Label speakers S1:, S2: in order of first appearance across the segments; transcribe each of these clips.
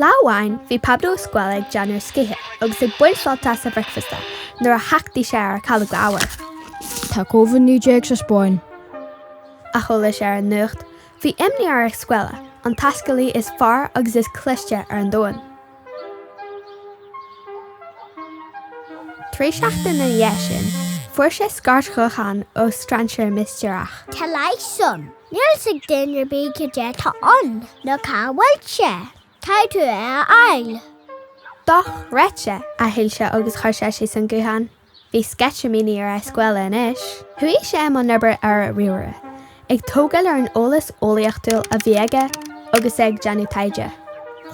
S1: Lá amháin bhí Pablo Escuela ag déanamh scíthe agus ag baint sult as a bhricfeasta nuair a thachtaigh sé ar calóga arbhair.
S2: Tá Covid 19 sa Spáinn.
S1: a chuala sé ar an nuacht. Bhí imní ar Escuela, an taiscealaí is fearr agus is cliste ar an domhan. Trí seachtain na dhiaidh sin fuair sé scairt ghutháin ó strainséir mistéireach. Tá leigheas
S3: ann. Níl fhios ag duine ar bith cad é tá ann ná cá bhfuil sé. Caithfidh tú é a fháil.
S1: Dochreidte! a shíl sé agus chuir sé síos an guthán. Bhí sceitimíní ar Escuela anois. Chuaigh sé i mbun oibre ar a' ríomhaire, ag tógáil ar an eolas eolaíochtúil a bhí aige agus é ag déanamh taighde.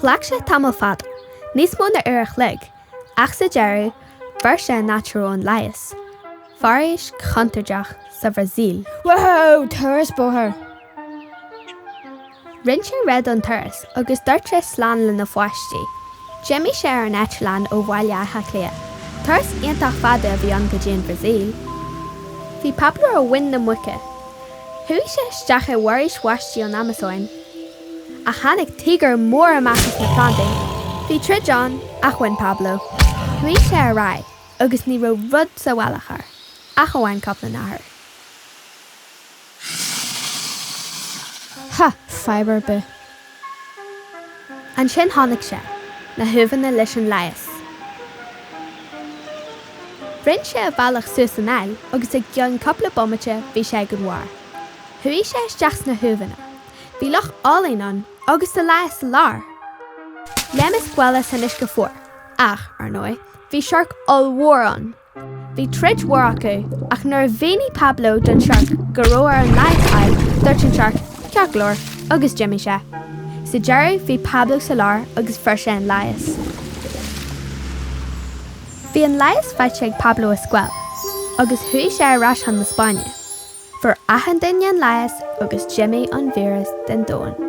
S1: Ghlac sé tamall fada, níos mó ná uair a' chloig, ach sa deireadh fuair sé an áit a raibh an leigheas, foraois chontúirteach, sa Bhrasaíl. Whoa! Turas
S2: bóthair!
S1: Rinn sé réidh don turas agus dúirt sé slán lena pháistí. D'imigh sé ar an eitleán ó Bhaile Átha Cliath. Turas iontach fada a bhí ann go dtí an Bhrasaíl. Bhí Pablo ar mhuin na muice. Chuaigh sé isteach i bhforaois bháistí an Amasóin. Ach tháinig tíogar mór amach as na plandaí. Bhí troid ann ach bhain Pablo. Chuaigh sé ar aghaidh agus ní raibh rud sa bhealach air ach amháin cupla nathair.
S2: Ha! Fadhb ar
S1: bith. Ansin chonaic sé na huaimheanna leis an leigheas. Rinn sé a bhealach suas an aill agus i gcionn cupla bomaite bhí sé ag an bharr. Chuaigh sé isteach sna huaimheanna. Bhí loch álainn ann agus an leigheas sa lár! Léim Escuela san uisce fuar, ach, ar ndóigh, bhí siorc ollmhór ann! Bhí troid mhór acu, ach nuair a mhínigh Pablo don tsiorc go raibh air an leigheas a fháil, dúirt an siorc, Ceart go leor, agus d'imigh sé. Sa deireadh, bhí Pablo sa lár agus fuair sé an leigheas. Bhí an leigheas faighte ag Pablo Escuela, agus chuaigh sé ar ais chun na Spáinne. Fuair achan duine an leigheas agus d'imigh an víreas den domhan.